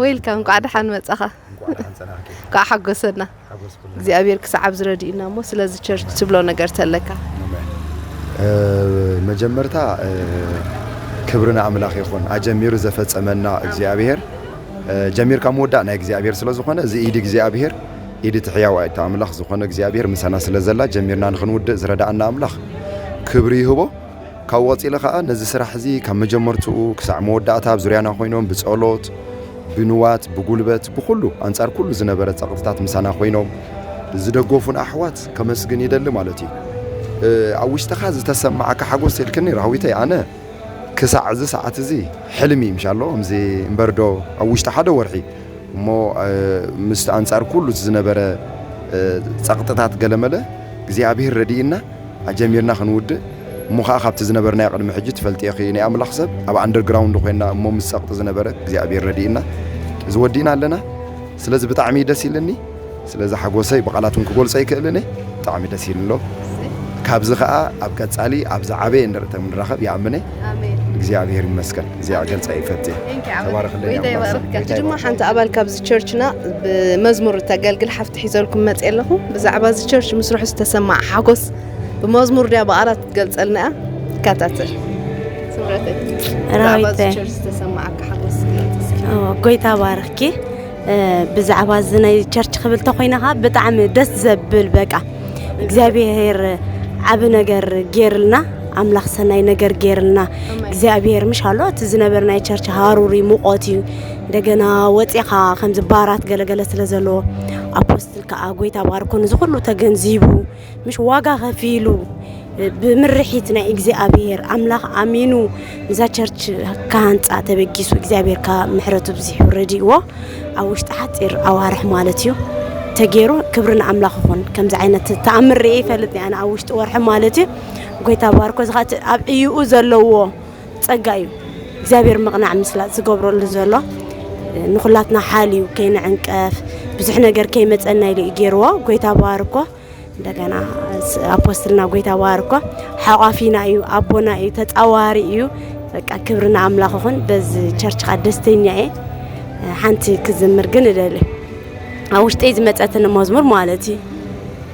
ወይልካም እንኳዕ ደሓን መጻኻ እንኳዕ ደሓን ጸናሕኪ እንኳዕ ሓጎሰና ሓጎስኩልና እግዚኣብሔር ክሳዕ ኣብዚ ረድኡና እሞ ስለዚ ቸርች ትብሎ ነገር ተለካ መጀመርታ ክብሪ ንኣምላኽ ይኹን ኣጀሚሩ ዘፈጸመና እግዚኣብሔር ጀሚርካ ምውዳእ ናይ እግዚኣብሔር ስለ ዝኾነ እዚ ኢድ እግዚኣብሔር ኢድ እቲ ሕያው ኣይቲ ኣምላኽ ዝኾነ እግዚኣብሔር ምሳና ስለ ዘላ ጀሚርና ንክንውድእ ዝረዳእና ኣምላኽ ክብሪ ይህቦ ካብኡ ቀጺለ ከኣ ነዚ ስራሕ እዚ ካብ መጀመርትኡ ክሳዕ መወዳእታ ኣብ ዙርያና ኮይኖም ብጸሎት ብንዋት ብጉልበት ብኹሉ ኣንጻር ኩሉ ዝነበረ ጸቕጥታት ምሳና ኮይኖም ዝደገፉን ኣሕዋት ከመስግን ይደሊ ማለት እዩ። ኣብ ውሽጥኻ ዝተሰማዓካ ሓጎስ ትልክኒ ራህዊተይ ኣነ ክሳዕ እዚ ሰዓት እዚ ሕልሚ ምሻሎ እምዚ እምበር ዶ ኣብ ውሽጢ ሓደ ወርሒ እሞ ምስ ኣንጻር ኩሉ ዝነበረ ጸቕጥታት ገለመለ እግዚኣብሄር ረዲእና ኣጀሚርና ክንውድእ እሞ ከኣ ካብቲ ዝነበርናዮ ቅድሚ ሕጂ ትፈልጥዮ ኢኺ ናይ ኣምላኽ ሰብ ኣብ ኣንደር ግራውንድ ኮይና እሞ ምስ ጸቅጢ ዝነበረ እግዚኣብሄር ረዲእና እዚ ወዲእና ኣለና ስለዚ ብጣዕሚ እዩ ደስ ኢልኒ ስለዚ ሓጎሰይ ብቃላት ውን ክጎልጾ ኣይክእልን እየ ብጣዕሚ ደስ ኢልኒ ኣሎ ካብዚ ከኣ ኣብ ቀጻሊ ኣብ ዝዓበየ እንድርተ ክንራኸብ ይኣምን እየ ኣሜን እግዚኣብሄር ይመስገን እዚኣ ክገልጻ ይፈት እየ ቴንክ ዩ ዓመት ተባረኽልኝ ጎይታ ኣምላኽ ሰብ። ይባርኽካ እቲ ድማ ሓንቲ ኣባል ካብዚ ቸርችና ብመዝሙር እተገልግል ሓፍቲ መልእኽቲ ሒዘልኩም መጽየ ኣለኹ። ብዛዕባ እዚ ቸርች ምስርሑ ዝተሰማዕ ሓጎስ ብመዝሙር ድያ ብኣራት ክትገልጸልና እያ። ይከታተል ስምረተይ ብዛዕባ እዚ ቸርች ዝተሰማዓካ ሓጎስ ጎይታ ባርኽኪ ብዛዕባ እዚ ናይ ቸርች ክብል ተኮይነ ከዓ ብጣዕሚ ደስ ዘብል በቃ እግዚኣብሄር ዓብ ነገር ጌርልና ኣምላኽ ሰናይ ነገር ጌርልና እግዚኣብሄር ምሽ ኣሎ እቲ ዝነበርናይ ቸርች ሃሩር እዩ ሙቆት እዩ እንደገና ወፂኻ ከምዚ ባራት ገለገለ ስለ ዘለዎ ኣፖስትል ከዓ ጎይታ ባርኮ እዚ ኩሉ ተገንዚቡ ምሽ ዋጋ ከፊሉ ብምርሒት ናይ እግዚኣብሔር ኣምላኽ ኣሚኑ እዛ ቸርች ካሃንፃ ተበጊሱ እግዚኣብሔር ካ ምሕረቱ ብዚሕ ረድእዎ ኣብ ውሽጢ ሓፂር ኣዋርሕ ማለት እዩ ተገይሩ ክብሪ ንኣምላኽ ይኹን ከምዚ ዓይነት ተኣምር ርኤ ይፈልጥ ኣነ ኣብ ውሽጢ ወርሒ ማለት እዩ ጎይታ ባርኮ ዝካ ኣብ ዕይኡ ዘለዎ ጸጋ እዩ እግዚኣብሔር ምቕናዕ ምስላጥ ዝገብረሉ ዘሎ ንኹላትና ሓል እዩ ከይንዕንቀፍ ብዙሕ ነገር ከይመጸና ኢሉ እዩ ገይርዎ ጎይታ ባርኮ እንደገና ኣፖስትልና ጎይታ ባርኮ ሓቋፊና እዩ ኣቦና እዩ ተጻዋሪ እዩ በቃ ክብሪ ንኣምላኽ ይኹን በዚ ቸርች ካ ደስተኛ እየ ሓንቲ ክዝምር ግን እደሊ ኣብ ውሽጠይ ዝመፀትኒ መዝሙር ማለት እዩ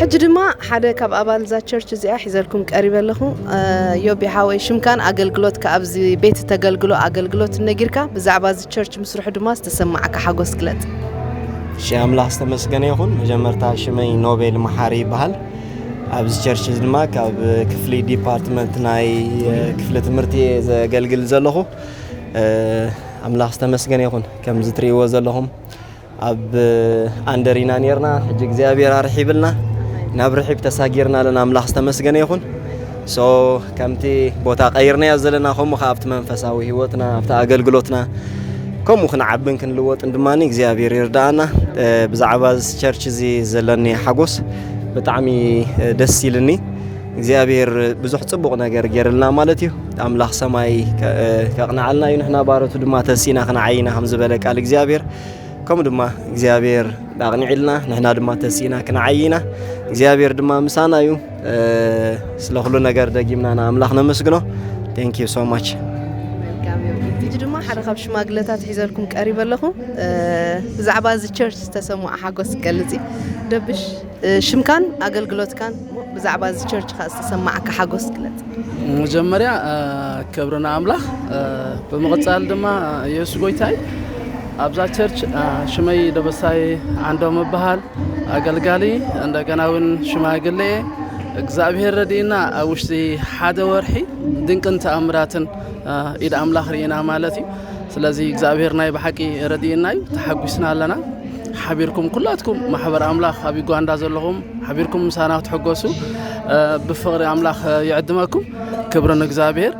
ሕጂ ድማ ሓደ ካብ ኣባል እዛ ቸርች እዚኣ ሒዘልኩም ቀሪበ ኣለኹ። ዮቢ ሓወይ ሽምካን ኣገልግሎትካ ኣብዚ ቤት እተገልግሎ ኣገልግሎት ነጊርካ ብዛዕባ እዚ ቸርች ምስርሑ ድማ ዝተሰማዓካ ሓጎስ ግለጽ። እሺ ኣምላኽ ዝተመስገነ ይኹን። መጀመርታ ሽመይ ኖቤል መሓሪ ይበሃል። ኣብዚ ቸርች እዚ ድማ ካብ ክፍሊ ዲፓርትመንት ናይ ክፍሊ ትምህርቲ እየ ዘገልግል ዘለኹ። ኣምላኽ ዝተመስገነ ይኹን። ከምዚ ትርእይዎ ዘለኹም ኣብ ኣንደር ኢና ኔርና ሕጂ እግዚኣብሔር ኣርሒብልና ናብ ርሒብ ተሳጊርና ኣለና ኣምላኽ ዝተመስገነ ይኹን ሶ ከምቲ ቦታ ቀይርናዮ ዘለና ከምኡ ከዓ ኣብቲ መንፈሳዊ ህይወትና ኣብቲ ኣገልግሎትና ከምኡ ክንዓብን ክንልወጥን ድማ እግዚኣብሔር ይርዳኣና ብዛዕባ ቸርች እዚ ዘለኒ ሓጎስ ብጣዕሚ ደስ ኢልኒ እግዚኣብሔር ብዙሕ ጽቡቕ ነገር ገይርልና ማለት እዩ ኣምላኽ ሰማይ ከቕንዓልና እዩ ንሕና ባረቱ ድማ ተሲና ክንዓይና ከም ዝበለ ቃል እግዚኣብሔር ከምኡ ድማ እግዚኣብሔር ኣቕኒዕልና ንሕና ድማ ተሲና ክንዓይና እግዚኣብሔር ድማ ምሳና እዩ ስለ ኩሉ ነገር ደጊምና ንኣምላኽ ነመስግኖ ቴንክ ዩ ሶ ማች ሕጂ ድማ ሓደ ካብ ሽማግለታት ሒዘልኩም ቀሪበ ኣለኹ ብዛዕባ እዚ ቸርች ዝተሰምዖ ሓጎስ ክገልጽ እዩ ደብሽ ሽምካን ኣገልግሎትካን እሞ ብዛዕባ እዚ ቸርች ከኣ ዝተሰማዓካ ሓጎስ ግለጽ። መጀመርያ ክብሪ ንኣምላኽ ብምቕጻል ድማ የሱስ ጎይታይ ኣብዛ ቸርች ሽመይ ደበሳይ ዓንዶም እበሃል ኣገልጋሊ እንደገና እውን ሽማግሌ እየ እግዚኣብሄር ረድእና ኣብ ውሽጢ ሓደ ወርሒ ድንቅን ተኣምራትን ኢድ ኣምላኽ ርኢና ማለት እዩ ስለዚ እግዚኣብሄር ናይ ብሓቂ ረድእና እዩ ተሓጒስና ኣለና ሓቢርኩም ኩላትኩም ማሕበር ኣምላኽ ኣብ ዩጋንዳ ዘለኹም ሓቢርኩም ምሳና ክትሕገሱ ብፍቕሪ ኣምላኽ ይዕድመኩም ክብሪ ንእግዚኣብሔር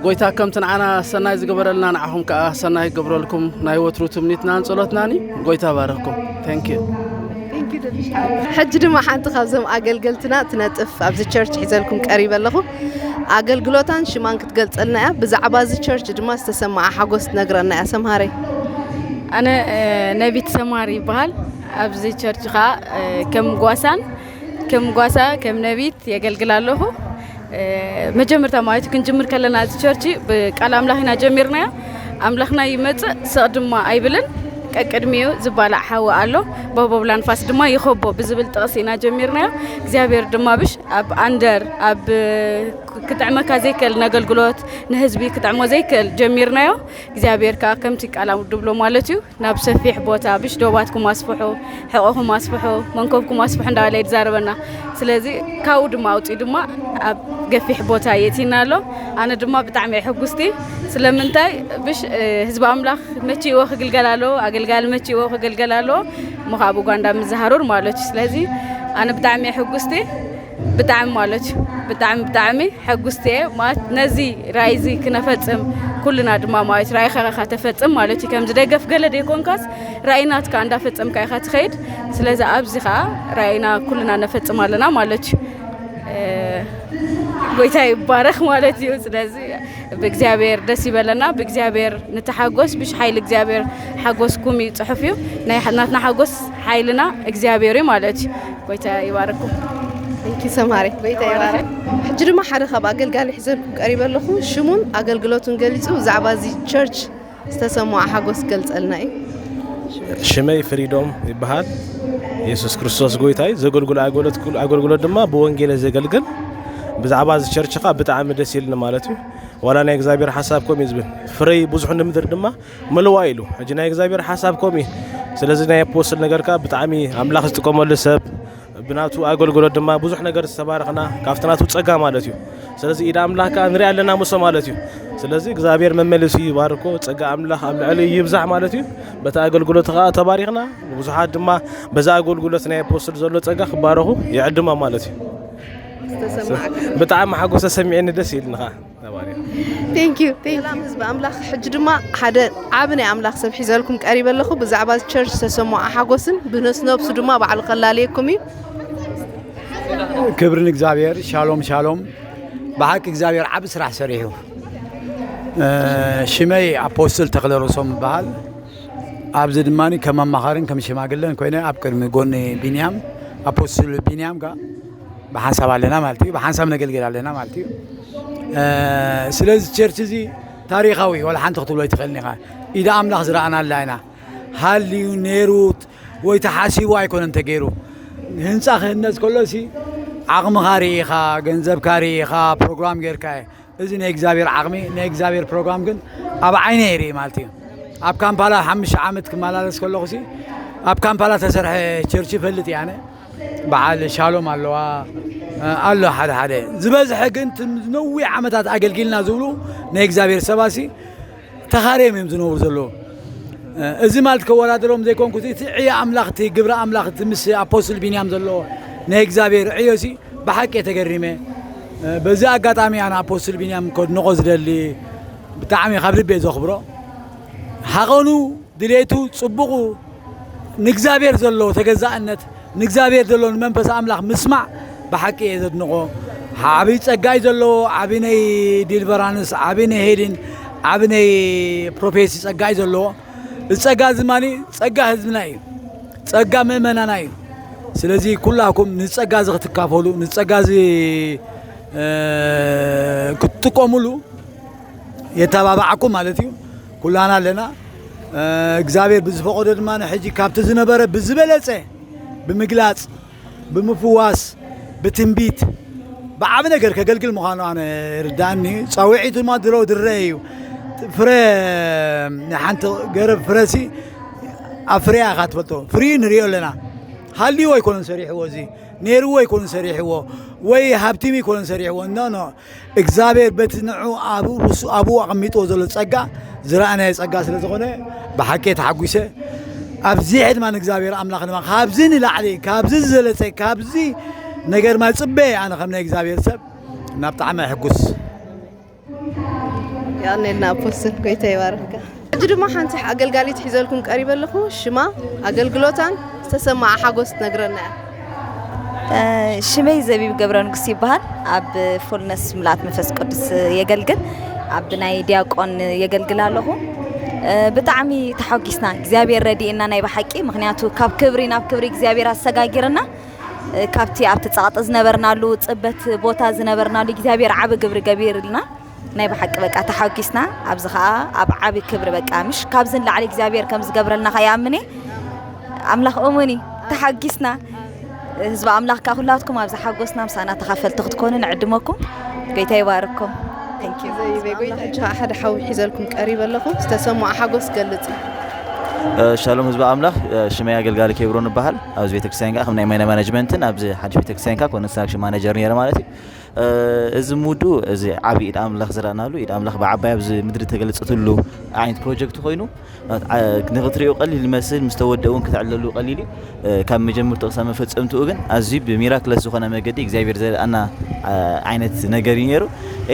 ጎይታ ከምቲ ንዓና ሰናይ ዝገበረልና ንዓኹም ከዓ ሰናይ ይገብረልኩም ናይ ወትሩ ትምኒትናን ጸሎትናን እዩ ጎይታ ባረኩም ታንክ ዩ ሕጂ ድማ ሓንቲ ካብዞም ኣገልገልትና ትነጥፍ ኣብዚ ቸርች ሒዘልኩም ቀሪበ ኣለኹ ኣገልግሎታን ሽማን ክትገልጸልና እያ። ብዛዕባ እዚ ቸርች ድማ ዝተሰምዓ ሓጎስ ትነግረና እያ። ሰምሃረይ። ኣነ ነቢት ሰማር ይበሃል ኣብዚ ቸርች ከዓ ከም ጓሳን ከም ጓሳ ከም ነቢት የገልግል ኣለኹ መጀመርታ ማለት ክንጅምር ከለና እዚ ቸርች ብቃል ኣምላኽ ኢና ጀሚርናዮ ኣምላኽና ይመፅእ ሰቕ ድማ ኣይብልን ቀቅድሚኡ ዝባላዕ ሓዊ ኣሎ ቦቦብላ ንፋስ ድማ ይኸቦ ብዝብል ጥቕስ ኢና ጀሚርናዮ እግዚኣብሔር ድማ ብሽ ኣብ ኣንደር ኣብ ክጥዕመካ ዘይክእል ነገልግሎት ንህዝቢ ክጥዕሞ ዘይክእል ጀሚርናዮ እግዚኣብሔር ከዓ ከምቲ ቃል ድብሎ ማለት እዩ ናብ ሰፊሕ ቦታ ብሽ ዶባትኩም ኣስፍሑ ሕቆኹም ኣስፍሑ መንኮብኩም ኣስፍሑ እንዳበለ ይዛረበና ስለዚ ካብኡ ድማ ኣውፅኡ ድማ ኣብ ገፊሕ ቦታ የእቲና ኣሎ ኣነ ድማ ብጣዕሚ እየ ሕጉስቲ ስለምንታይ ብሽ ህዝቢ ኣምላኽ መቺእዎ ክግልገል ኣለዎ ኣገልጋሊ መቺእዎ ክግልገል ኣለዎ ምኻብ ኡጋንዳ ምዝሃሩር ማለች ስለዚ ኣነ ብጣዕሚ ሕጉስቲ ብጣዕሚ ማለች ብጣዕሚ ብጣዕሚ ሕጉስቲ እየ ማለት ነዚ ራእይ እዚ ክነፈፅም ኩልና ድማ ማለት ራእይ ከረካ ተፈፅም ማለት እዩ ከምዚ ደገፍ ገለ ደይኮንካስ ራእይናትካ እንዳፈፀምካ ኢኻ ትኸይድ ስለዚ ኣብዚ ከዓ ራእይና ኩልና ነፈፅም ኣለና ማለት እዩ ጎይታ ይባረክ ማለት እዩ ስለዚ ብእግዚኣብሔር ደስ ይበለና ብእግዚኣብሔር ንተሓጎስ ብሽ ሓይሊ እግዚኣብሔር ሓጎስኩም እዩ ፅሑፍ እዩ ናትና ሓጎስ ሓይልና እግዚኣብሔር እዩ ማለት እዩ ጎይታ ይባርኩም ንኪ ሰማሪ ጎይታ ይባርክ ሕጂ ድማ ሓደ ካብ ኣገልጋሊ ሒዘልኩም ቀሪበ ኣለኹ ሽሙን ኣገልግሎቱን ገሊፁ ብዛዕባ እዚ ቸርች ዝተሰምዖ ሓጎስ ክገልጸልና እዩ። ሽመይ ፍሪዶም ይበሃል የሱስ ክርስቶስ ጎይታ እዩ ዘገልግሎ ኣገልግሎት ድማ ብወንጌለ ዘገልግል ብዛዕባ እዚ ቸርች ከዓ ብጣዕሚ ደስ ኢልኒ ማለት እዩ ዋላ ናይ እግዚኣብሔር ሓሳብ ከምኡ እዩ ዝብል ፍረይ ብዙሕ ንምድር ድማ ምልዋ ኢሉ ሕጂ ናይ እግዚኣብሔር ሓሳብ ከምኡ እዩ ስለዚ ናይ ኣፖስትል ነገር ከዓ ብጣዕሚ ኣምላኽ ዝጥቀመሉ ሰብ ብናቱ ኣገልግሎት ድማ ብዙሕ ነገር ዝተባረኽና ካብቲ ናቱ ጸጋ ማለት እዩ ስለዚ ኢድ ኣምላኽ ከዓ ንሪኣ ኣለና ምሶ ማለት እዩ ስለዚ እግዚኣብሔር መመልሲ ይባርኮ ጸጋ ኣምላኽ ኣብ ልዕሊ ይብዛሕ ማለት እዩ በቲ ኣገልግሎት ከዓ ተባሪኽና ብዙሓት ድማ በዛ ኣገልግሎት ናይ ኣፖስትል ዘሎ ጸጋ ክባረኹ ይዕድማ ማለት እዩ ብጣዕሚ ሓጎስ ተሰሚዕኒ ደስ ኢልኒ ከዓ ነባሪያ ቴንክ ዩ ቴንክ ሰላም ዩ ህዝቢ ኣምላኽ ሕጂ ድማ ሓደ ዓቢ ናይ ኣምላኽ ሰብ ሒዘልኩም ቀሪበ ኣለኹ ብዛዕባ እዚ ቸርች ዝተሰምዖ ሓጎስን ብነስ ነብሱ ድማ ባዕሉ ከላልየኩም እዩ ክብሪ ንእግዚኣብሔር ሻሎም ሻሎም ብሓቂ እግዚኣብሔር ዓብ ስራሕ ሰሪሑ እ፣ ሽመይ ኣፖስትል ተክለ ርእሶም ይበሃል ኣብዚ ድማ ከም ኣማኻርን ከም ሽማግለን ኮይነ ኣብ ቅድሚ ጎኒ ቢንያም ኣፖስትል ቢንያም ከ ብሓንሳብ ኣለና ማለት እዩ ብሓንሳብ ነገልግል ኣለና ማለት እዩ ስለዚ ቸርች እዚ ታሪኻዊ ዋላ ሓንቲ ክትብሎ ኣይትኽእልን ኢኻ ኢደ ኣምላኽ ዝረኣናላ ኢና ሃልዩ ነይሩ ወይ ተሓሲቡ ኣይኮነን ተገይሩ ህንፃ ክህነፅ ከሎሲ ዓቕምኻ ርኢኻ ገንዘብካ ርኢኻ ፕሮግራም ጌርካ እዩ እዚ ናይ እግዚኣብሔር ዓቅሚ ናይ እግዚኣብሔር ፕሮግራም ግን ኣብ ዓይነ ይርኢ ማለት እዩ ኣብ ካምፓላ ሓምሽተ ዓመት ክመላለስ ከለኹ ሲ ኣብ ካምፓላ ተሰርሐ ቸርች ይፈልጥ እየ ኣነ በዓል ሻሎም ኣለዋ ኣሎ ሓደ ሓደ ዝበዝሐ ግን ነዊሕ ዓመታት ኣገልጊልና ዝብሉ ናይ እግዚኣብሔር ሰባሲ ተኻርዮም እዮም ዝነብሩ ዘለዉ እዚ ማለት ከወዳድሮም ዘይኮንኩ እቲ ዕዮ ኣምላኽ እቲ ግብሪ ኣምላኽ እቲ ምስ ኣፖስትል ቢንያም ዘለዎ ናይ እግዚኣብሔር ዕዮ ሲ ብሓቂ እየ ተገሪመ በዚ ኣጋጣሚ ኣነ ኣፖስትል ቢንያም ከድንቆ ዝደሊ ብጣዕሚ ካብ ልቤ ዘኽብሮ ሓቐኑ ድሌቱ ፅቡቑ ንእግዚኣብሔር ዘለዎ ተገዛእነት ንእግዚኣብሔር ዘለዎ ንመንፈስ ኣምላኽ ምስማዕ ብሓቂ እየ ዘድንቆ ዓብይ ጸጋ እዩ ዘለዎ ዓብይ ናይ ዲልቨራንስ ዓብይ ናይ ሄሊን ዓብይ ናይ ፕሮፌሲ ጸጋ እዩ ዘለዎ እዚ ጸጋ እዚ ድማ ጸጋ ህዝብና እዩ ጸጋ ምእመናና እዩ ስለዚ ኩላኩም ንጸጋ እዚ ክትካፈሉ ንጸጋ እዚ እ፣ ክትጥቀሙሉ የተባባዓኩም ማለት እዩ ኩላና ኣለና እግዚኣብሔር ብዝፈቐዶ ድማ ሕጂ ካብቲ ዝነበረ ብዝበለጸ ብምግላጽ ብምፍዋስ ብትንቢት ብዓብ ነገር ከገልግል ምዃኑ ኣነ ርዳእኒ ፃውዒቱ ድማ ድሮ ድረ እዩ ፍረ ሓንቲ ገረብ ፍረሲ ኣብ ፍርያ ኢኻ ትፈልጦ ፍሪ ንሪኦ ኣለና ሃልዎ ኣይኮነን ሰሪሕዎ እዚ ነይርዎ ኣይኮነን ሰሪሕዎ ወይ ሃብቲም ኣይኮነን ሰሪሕዎ ኖ ኖ እግዚኣብሔር በቲ ንዑ ኣብ ርእሱ ኣብኡ ኣቐሚጥዎ ዘሎ ጸጋ ዝረኣናዮ ጸጋ ስለ ዝኾነ ብሓቂ ተሓጒሰ ኣብዚ ድማ ንእግዚኣብሔር ኣምላኽ ድማ ካብዚ ንላዕሊ ካብዚ ዝዘለጸ ካብዚ ነገር ማ ጽበየ ኣነ ከም ናይ እግዚኣብሔር ሰብ ናብ ጣዕሚ ኣይሕጉስ ያኔልና ፖስት ኮይተ ይባርካ ሕጂ ድማ ሓንቲ ኣገልጋሊት ሒዘልኩም ቀሪበ ኣለኹ። ሽማ፣ ኣገልግሎታን ዝተሰምዓ ሓጎስ ትነግረና እያ። ሽመይ ዘቢብ ገብረንጉስ ይበሃል ኣብ ፉልነስ ምልኣት መንፈስ ቅዱስ የገልግል ኣብ ናይ ዲያቆን የገልግል ኣለኹ ብጣዕሚ ተሓጒስና እግዚኣብሔር ረድኤና ናይ ብሓቂ ምክንያቱ ካብ ክብሪ ናብ ክብሪ እግዚኣብሔር ኣሰጋጊርና ካብቲ ኣብቲ ጸቕጢ ዝነበርናሉ ጽበት ቦታ ዝነበርናሉ እግዚኣብሔር ዓቢ ግብሪ ገቢርልና ናይ ብሓቂ በቃ ተሓጊስና ኣብዚ ከኣ ኣብ ዓቢ ክብሪ በቃ ምሽ ካብዚ ንላዕሊ እግዚኣብሔር ከም ዝገብረልና ከ ይኣምን እየ ኣምላኽ እሙን እዩ ተሓጊስና ህዝቢ ኣምላኽ ከ ኩላትኩም ኣብዚ ሓጎስና ምሳና ተኻፈልቲ ክትኮኑ ንዕድመኩም ጎይታ ይባርኩም ሓደ ሓዊ ሒዘልኩም ቀሪበ ኣለኹ ዝተሰምዖ ሓጎስ ገልጽ ሻሎም ህዝቢ ኣምላኽ ሽመይ ኣገልጋሊ ኬብሮ ንበሃል ኣብዚ ቤተክርስትያን ከዓ ከም ናይ ማይና ማናጅመንትን ኣብዚ ሓድሽ ቤተክርስትያን ከዓ ኮንስትራክሽን ማናጀር ነረ ማለት እዩ እዚ ሙዱ እዚ ዓቢ ኢድ ኣምላኽ ዝረኣናሉ ኢድ ኣምላኽ ብዓባይ ኣብዚ ምድሪ ተገለጸትሉ ዓይነት ፕሮጀክት ኮይኑ ንክትሪኡ ቀሊል ይመስል ምስ ተወድእ እውን ክትዕለሉ ቀሊል እዩ ካብ መጀመርትኡ ክሳብ መፈጸምትኡ ግን ኣዝዩ ብሚራክለስ ዝኾነ መገዲ እግዚኣብሔር ዘርኣና ዓይነት ነገር እዩ ነይሩ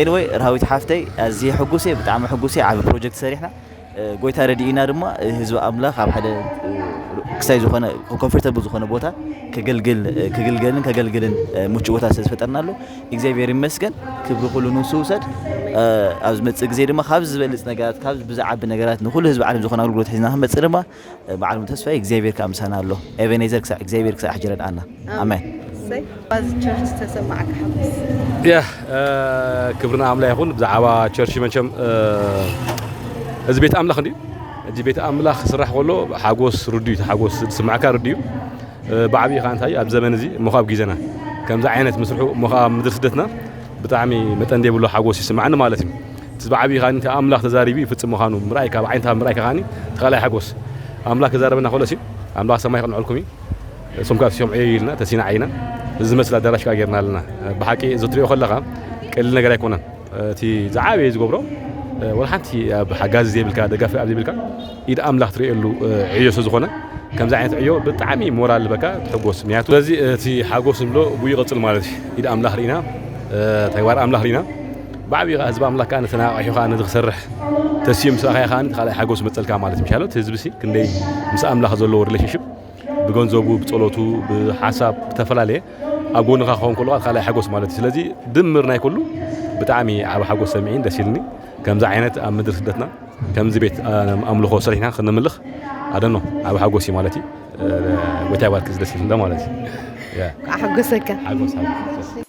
ኤንወይ ረሃዊት ሓፍተይ ኣዝየ ሕጉስ እየ ብጣዕሚ ሕጉስ እየ ዓቢ ፕሮጀክት ሰሪሕና ጎይታ ረዲኢና ድማ ህዝቢ ኣምላኽ ኣብ ሓደ ክሳይ ዝኾነ ኮንፈርተብል ዝኾነ ቦታ ከገልግል ክግልገልን ከገልግልን ምቹእ ቦታ ስለ ዝፈጠርናሉ እግዚኣብሔር ይመስገን ክብሪ ኩሉ ንሱ ውሰድ ኣብ ዝመጽእ ግዜ ድማ ካብ ዝበልጽ ነገራት ካብ ብዝዓቢ ነገራት ንኩሉ ህዝቢ ዓለም ዝኾነ ኣገልግሎት ሒዝና ክንመጽእ ድማ በዓል ተስፋይ እግዚኣብሔር ከኣ ምሳና ኣሎ ኤቤኔዘር ክሳዕ እግዚኣብሔር ክሳዕ ሕጂ ረድኣና ኣሜን። ክብሪ ንኣምላኽ ይኹን። ብዛዕባ ቸርች መቸም እዚ ቤት ኣምላኽ እንዲዩ እዚ ቤት ኣምላኽ ክስራሕ ከሎ ሓጎስ ርድዩ እቲ ሓጎስ ዝስማዕካ ርድዩ ብዓብዪ ከዓ እንታይ ኣብ ዘመን እዚ እሞ ካብ ግዜና ከምዚ ዓይነት ምስርሑ እሞ ከዓ ምድሪ ስደትና ብጣዕሚ መጠን ዘይብሉ ሓጎስ ይስማዓኒ ማለት እዩ እቲ ዝዓብይ ከኣ እቲ ኣምላኽ ተዛሪቡ ይፍጽም ምኻኑ ምርኣይ ካብ ዓይነታ ምርኣይካ ከኣ እቲ ካልኣይ ሓጎስ ኣምላኽ ክዛረበና ከሎስ እዩ ኣምላኽ ሰማይ የቕንዐልኩም እዩ እሶም ከኣ ሲሶም ዕየዩ ኢልና ተሲና ዓይና እዚ ዝመስል ኣዳራሽ ከኣ ጌርና ኣለና ብሓቂ እዚ ትሪኦ ከለኻ ቀሊል ነገር ኣይኮነን እቲ ዝዓበየ ዝገብሮ ወላ ሓንቲ ኣብ ሓጋዚ ዘይብልካ ደጋፊ ኣብ ዘይብልካ ኢድ ኣምላኽ ትርእየሉ ዕዮ ስለ ዝኾነ ከምዚ ዓይነት ዕዮ ብጣዕሚ ሞራል ዝበካ ትሕጎስ ምክንያቱ ስለዚ እቲ ሓጎስ ንብሎ ብኡ ይቕፅል ማለት እዩ ኢድ ኣምላኽ ርኢና ተግባር ኣምላኽ ርኢና ብዓቢኡ ከኣ ህዝቢ ኣምላክ ከኣ ነቲ ነቃቂሑ ከኣ ነዚ ክሰርሕ ተሲኡ ምስ ረኣኻዮ ከኣ እቲ ካልኣይ ሓጎስ ይመጸልካ ማለት ምሻሎ እቲ ህዝቢሲ ክንደይ ምስ ኣምላኽ ዘለዎ ሪሌሽንሽፕ ብገንዘቡ ብጸሎቱ ብሓሳብ ብተፈላለየ ኣብ ጎንኻ ክኸውን ከሎ እቲ ካልኣይ ሓጎስ ማለት እዩ ስለዚ ድምር ናይ ኩሉ ብጣዕሚ ዓብ ሓጎስ ሰሚዒን ደስ ኢልኒ ከምዚ ዓይነት ኣብ ምድሪ ስደትና ከምዚ ቤት ኣምልኾ ስርሕና ክንምልኽ ኣደኖ ዓብ ሓጎስ እዩ ማለት እዩ ጎይታ ይባርክ ደስ ኢልና ማለት እዩ ኣሓጎሰካ ሓጎስ ሓጎስ